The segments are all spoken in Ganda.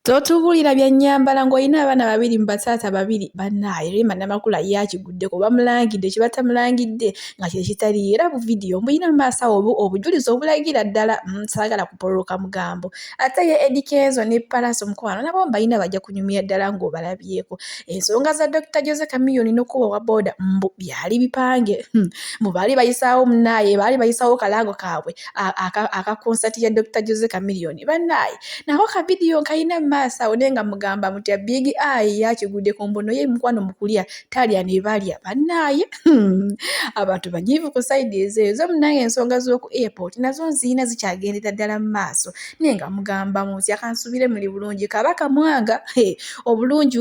Totubulira bya nnyambala ng'olina abaana babiri mu bataata babiri bannaaye Rema Namakula ye akiguddeko bamulangidde kye batamulangidde nga kye kitaliyo era bu vidiyo mbulina mu maaso awo obujulizi obulagira ddala mm, saagala kupololoka mugambo ate ye Eddy Kenzo ne Pallaso mukwano nabo mbalina bajja kunyumira ddala ng'obalabyeko ensonga za Dr Jose Chameleone n'okuba wa booda mbu byali bipange hmm, mbu baali bayisaawo munnaaye baali bayisaawo kalaago kaabwe aka konsati ya dr jose kamiliyoni bannaayi nako ka vidiyo nkalina mu maaso awo naye nga mugamba muti abigi ayi yakigudde ku mbono ye mukwano mu kulya talya ne balya bannaaye hmm. abantu banyiivu ku sayidi ezo ezo munange ensonga z'oku airport nazo nziina zikyagendera ddala mu maaso naye nga mugamba muti akansubire muli bulungi kaba kamwanga obulungi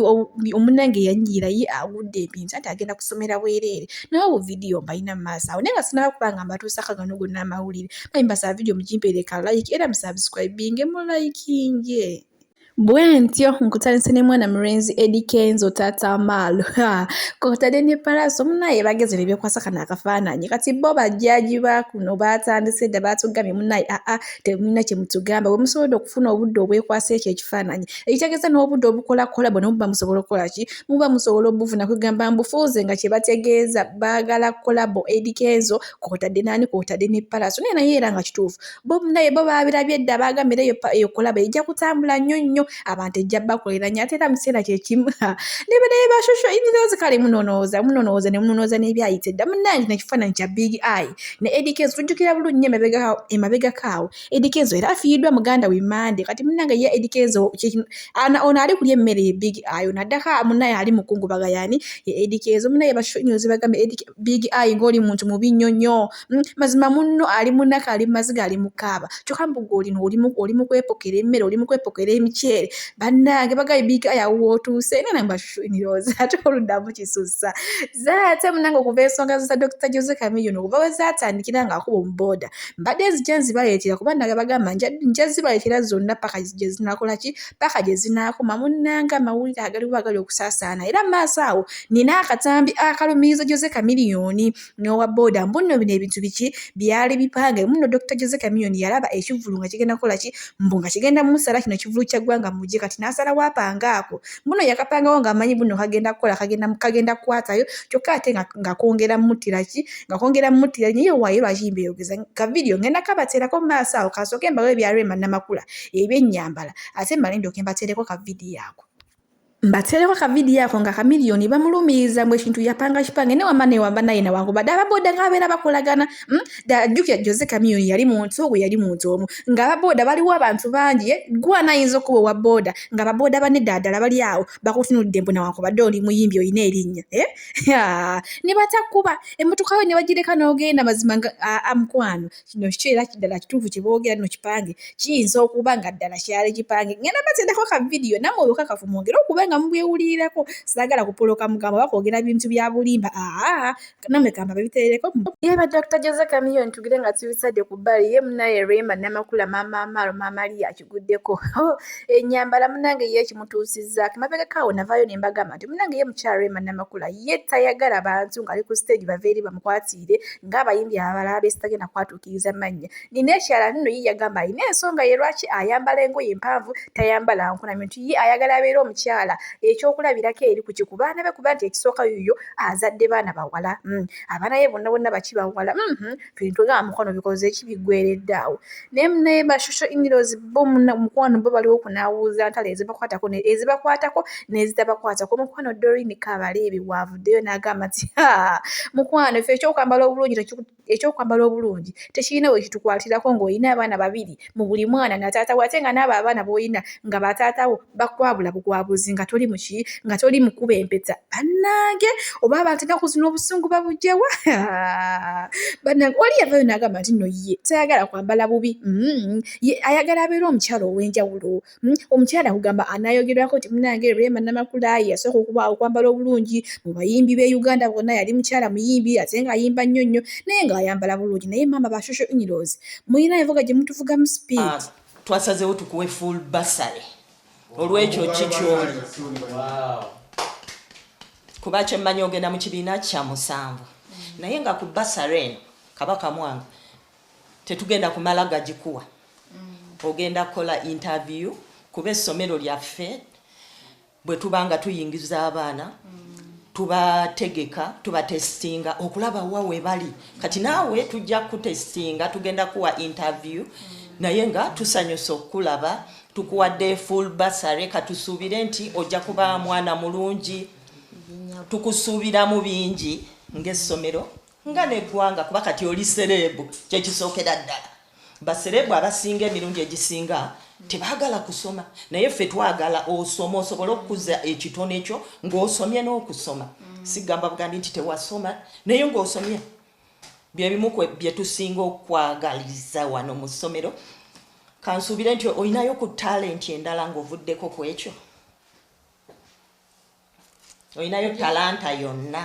omunange yanyiira ye agudde ebintu anti agenda kusomera bwereere naye obu video mbalina mu maaso awo naye nga sinaba kuba nga mbatuusako gano gonna amawulire naye mbasaba video mugimpeereka like era musubscribinge mu likinge bwentyo nkutandise ne mwana mulenzi edi kenzo taata amaalo kotadde ne palaaso munaye bageze ne byekwasa kano akafaananyi kati bo bajjaji ba kuno baatandise dda baatugamye munaye aa temulina kye mutugamba bwe musobodde okufuna obudde obwekwasa ekyo ekifaananyi ekitegeeza n'obudde obukola kolabo ne muba musobola okukola ki muba musobola obufuna kwegamba mbufuuze nga kyebategeeza baagala kolabo ediko ezo kwotadde naani kwotadde ne palaso naye naye era nga kituufu bo naye bo babirabye dda baagambira eyo eyo kolabo ejja kutambula nnyo nnyo abantu ejja bakolera nnyo ate era mu kiseera kyekimu nebe naye bashosho inzozi kale munonooza munonooza ne munonooza n'ebyayite dda munange nekifaananyi kya big eye ne ediko ezo tujjukira bulungi nnyo emabegakaawo Eddy Kenzo era afiiriddwa muganda we Monday kati munnange ye Eddy Kenzo ono ali kulya emmere ye Big Eye ono addako munnaye ali mukungubaga yani ye Eddy Kenzo munnaye basonyozi bagamba Eddy Big Eye ng'oli muntu mubi nnyo nnyo hmm, mazima munno ali munaka ali mumaziga ali mukaaba kyokka mbuga olino oli mu kwepokera emmere oli mu kwepokera emiceere bannange bagaye Big Eye awo wootuuse era nange basonyozi ate oluddamu kisussa zaate munange okuva ensonga za Dr Jose Chameleone okuva we zaatandikira ng'akuba omubooda mbadde nzija nzibaleetera kuba naga bagamba nja zibaleetera zonna paka gye zinakola ki paka gye zinaakoma munnanga amawulire agaliwo agali okusaasaana era maaso awo nina akatambi akalumiriza jose kamiliyoni n'owa booda mbunno bino ebintu biki byali bipange muno dr jose kamiliyoni yalaba ekivulu nga kigenda kola ki mbu nga kigenda musala kino kivulu kya ggwanga mugye kati n'asala wapanga ako muno yakapangawo ng'amanyi buno kagenda kukola kagenda kukwatayo kyokka ate nga kongera muttira ki nga kongera mutira naye wayo lwaki mbeyogeza ka video ngenda kabaterako maaso awo kasooke mbawo ebya Rema Namakula ebyenyambala ate male ndyoke mbatereko ka video ako mbatereko ka video ako nga kamiliyoni bamulumiiza mbu ekintu yapanga kipange newamba newamba naye nawankubadde ababooda nga babeera bakolagana hmm? ajjukira jose kamiliyoni yali muntu ogwo yali muntu omu nga ababooda baliwo abantu bangi eh? gwana ayinza okuba owa booda nga ababooda banedda ddala bali awo bakutunudde mbu nawankubadde oli muyimbi olina erinnya eh? ne batakuba emmotoka we ne bagireka n'ogenda mazima nga amukwano kino kiki era kiddala kituufu kye boogera no kipange kiyinza okuba nga ddala kyali kipange ngenda batendako ka vidiyo namwe obukakafu mwongere okuba nga mubwewulirirako saagala kupoloka mugambo oba kwogera bintu bya bulimba aa namwe kamba babiterereko yeba dr jose kamiyo ntugire nga tubisadde ku bbali ye munaye rema namakula maama amaalo maama liyaki guddeko oh, enyambala munange ye kimutuusizzaako emabegako awo navaayo ne mbagamba nti munange ye mukyala rema namakula ye tayagala bantu ng'ali ku stage bava eri bamukwatiire ng'abayimbi abalala besitagenda kwatuukiriza mannya nina ekyala nno ye yagamba alina ensonga ye lwaki ayambala engoye empanvu tayambala nkunamyo nti ye ayagala abeera omukyala ekyokulabirako eri ku kiku baana be kuba nti ekisooka yuyo azadde baana bawala hmm, abaana ye bonna bonna baki bawala hmm, hmm. bintu nga mukwano bikoze eki biggweredde awo naye munaye ba social inlaws bo muna- mukwano bo baliwo kunawuuza ntalo ezibakwatako ne- ezibakwatako n'ezitabakwatako mukwano dorini kabaleebi waavuddeyo n'agamba nti "Ha, mukwano ffe ekyokwambala obulungi tekiku- ekyokwambala obulungi tekirina we kitukwatirako ng'olina abaana babiri mu buli mwana na taata we ate nga n'abo abaana b'olina nga bataatawo bakwabula bugwabuzi nga toli muki nga toli mukuba empeta banange oba abantu enaku zino obusungu babujawa banange oli yavayo nagamba nti no ye tayagala kwambala bubi mm. ye ayagala abeera omukyalo owenjawulo mm. omukyala kugamba anayogerwako nti munange rema namakula yasooka okuba okwambala obulungi mu bayimbi be uganda bonna yali mukyala muyimbi ate nga ayimba nnyo nnyo naye nga ayambala bulungi naye maama bashosho inilos mulina evuga gye mutuvugamu speed ah. twasazewo tukuwe full basale olwekyo kikyo kuba kyemmanyi ogenda mu kibiina kya musanvu naye nga ku basale eno kabaka mwanga tetugenda kumala gagikuwa ogenda kukola interview kuba essomero lyaffe bwe tuba nga tuyingiza abaana tubategeka tubatesitinga okulaba wa we bali kati naawe tujja kutesitinga tugenda kuwa interview naye nga tusanyusa okukulaba tukuwadde full basare katusuubire nti ojja kuba mwana mulungi tukusuubiramu bingi ng'essomero nga neggwanga kuba kati oli sereebu kyekisookera ddala baserebu abasinga emirundi egisinga tebagala kusoma naye ffe twagala osoma osobole okukuza ekitone kyo ng'osomye n'okusoma mm. sigamba bugambi nti tewasoma naye ng'osomye byebimu byetusinga okwagaliza wano mu ssomero kansuubire nti olinayo ku talenti endala ng'ovuddeko ku ekyo olinayo talanta yonna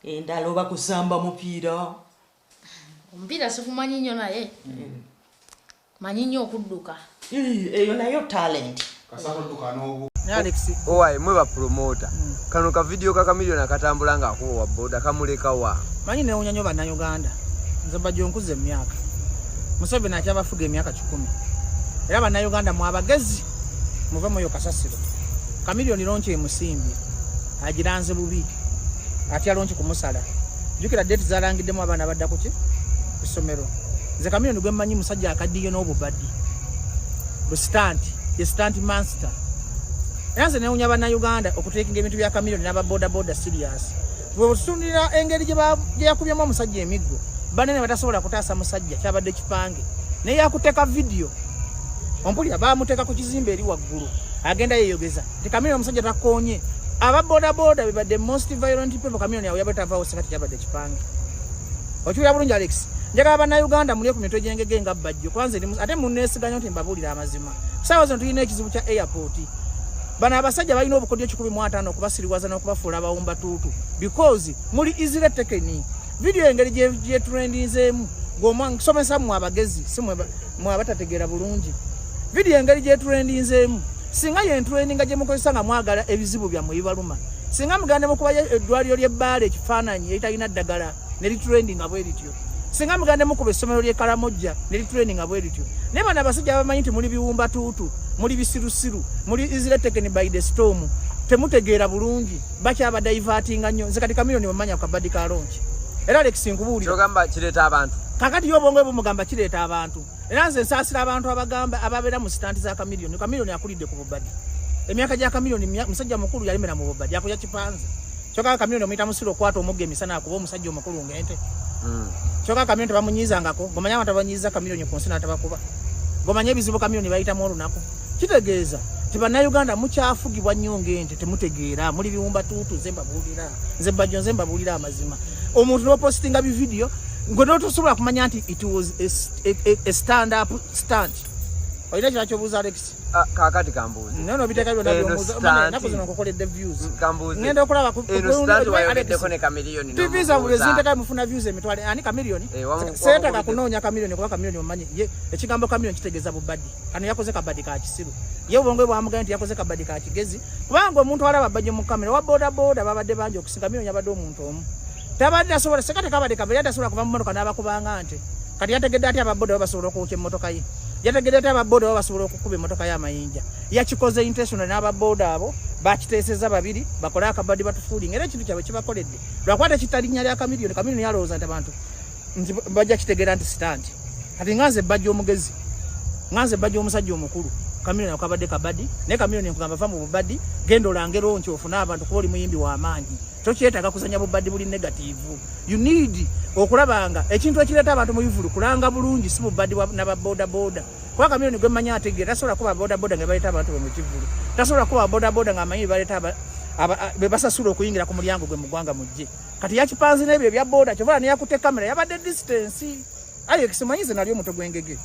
endala oba kusamba mupiira omupiira sikumanyi nnyo naye mm. manyi nnyo okudduka eyo nayo talent owaye mwe bapromota mm. kano kavidiyo kakamiliyoni akatambula nga akuba wa boda kamuleka wa manyi newunya nyo bannayuganda nze bajja onkuza emyaka museveni akyabafuga emyaka kikumi era bannayuganda mwabagezi muve muyo kasasiro kamiliyoni lonki emusimbye agiranze bubi atya lonki kumusala jukira date zalangiddemu abaana badda kuki kusomero nze kamiyoni gwemmanyi musajja akaddiye n'obubadi busitanti ye sitanti manster era nze newunya bannayuganda okuteekinga ebintu bya kamiyoni n'ababodaboda sirias bwetutunulira engeri gye yakubyemu omusajja emiggo banene batasobola kutaasa musajja kyabadde kipange naye yakuteeka vidiyo ompulira baamuteeka ku kizimba eri waggulu agenda yeyogeza The chameleon musajja takonye. Aba boda boda be the most violent people chameleon yawe yabata vawo sekati yabade kipange. Ochuya bulungi Alex. Njaga abana Uganda muli ku mitwe jengege nga bajjo. Kwanza ndi ate munesiganyo nti mbabulira amazima. Sawa zino tulina ekizibu kya airport. Bana abasajja balina obukodyo kikumi mu atano okubasiriwaza n'okubafuula abawumba tuutu because muli easily taken. Video engeri gye trendinzeemu gomwa nsomesa mu abagezi simwe mwaba tategeera bulungi vidiyo engeri gyeturendinzeemu singa yentureninga gyemukozesa nga mwagala ebizibu byammwe bibaluma singa muganda mukuba eddwaliro ly'ebbaala ekifaananyi eritalina ddagala neriturendi nga bwerityo singa muganda mukuba essomero ly'ekalamojja neriturendi nga bwerityo naye bana abasajja abamanyi nti muli biwumba tuutu muli bisirusiru muli isiretekeni by the storm temutegeera bulungi bakyaba divertinga nnyo nze kati kamiliyoni wemanya kabadi ka lonki era lekisi nkubuuliraogamba kireeta abantu kakati yo obwongo bumugamba kireeta abantu era nze nsaasira abantu abagamba ababeera mu sitanti za kamiliyoni kamiliyoni akulidde ku bubadi emyaka gya kamiliyoni musajja mukulu yalemera mu bubadi akulya kipanze kyoka kamiliyoni omuyita musiri okwata omugga emisana akuba omusajja omukulu ng'ente hmm. kyoka kamiliyoni tebamunyiizangako gomanya abantu abanyiiza kamiliyoni ku nsi n'atabakuba gomanya ebizibu kamiliyoni bayitamu olunaku kitegeeza nti bannayuganda mukyafugibwa nnyo ng'ente temutegeera muli biwumba tuutu nze mbabuulira nze bajjo nze mbabuulira amazima omuntu nopositinga bividiyo ngwe notosobola kumanya nti it was a, a, a, a stand up stand olina kira kyobuuza alex ah, kakati kambuuzi naye nobiteeka byona byomuuzaenaku zino nkukoledde views ngenda okulaba tv zabwe bezinteka mufuna views emitwale ani kamiliyoni eh, seetaka kunoonya kamiliyoni kuba kamiliyoni omanyi ye ekigambo kamiliyoni kitegeeza bubadi kano yakoze kabadi ka kisiru ye obwongo bwe bwamugambye nti yakoze kabadi ka kigezi kubanga omuntu alaba bajje mu kamera wa boda boda babadde bangi okusinga mino nyabadde omuntu omu tabadde asobola seka tekabadde kabadi yadde asobola kuva mu motoka n'abakubanga nte kati yategedde ati ababoda baba basobola okwokya emmotoka ye yategedde ati ababoda baba basobola okukuba emmotoka ye amayinja yakikoze intentional n'ababoda abo bakiteeseza babiri bakole akabadi batufuulinga era ekintu kyabwe kibakoledde lwakuba tekitalinya lya kamiliyoni kamiliyoni yalowooza nti abantu nti bajja kitegeera nti sitanti kati nga nze bajja omugezi nga nze bajja omusajja omukulu kamiliyoni akabadde kabadi naye kamiliyoni nkugamba va mu bubadi genda olangero nti ofune abantu kuba oli muyimbi w'amaanyi tokyetaaga kuzanya bubadi buli negativu you need okulabanga ekintu ekireeta abantu mu bivulu kulanga bulungi si bubadi nababodaboda kuba kamiliyoni gwe mmanyi ategeera tasobola kuba bodaboda nga baleeta abantu be mu kivulu tasobola kuba bodaboda nga amanyi bebaleeta bebasasula okuyingira ku mulyango gwe mu ggwanga mujje kati yakipanze n'ebyo ebya boda kyovala neyakutte kamera yabadde distance ayo ekisimanyise nalyo omuto gwengege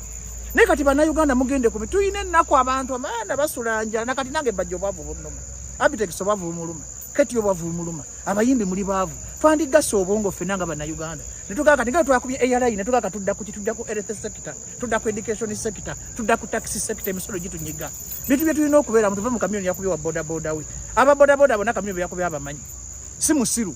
naye kati bannayuganda mugende kubi tulina ennaku abantu abaana basula njala nakati nange bajja obwavu bunuma abitekisa obwavu bumuluma kati obwavu bumuluma abayimbi muli baavu twandigasa obwongo ffena nga bannayuganda netugaa kati nga twakubye airline netugaa ka tudda kuki tudda ku earth sector tudda ku education sector tudda ku taxi sector emisolo gitunyiga bintu bye tulina okubeeramu tuve mu kamyoni yakubye wa bodaboda we aba bodaboda bona kamyoni beyakubye abamanyi si musiru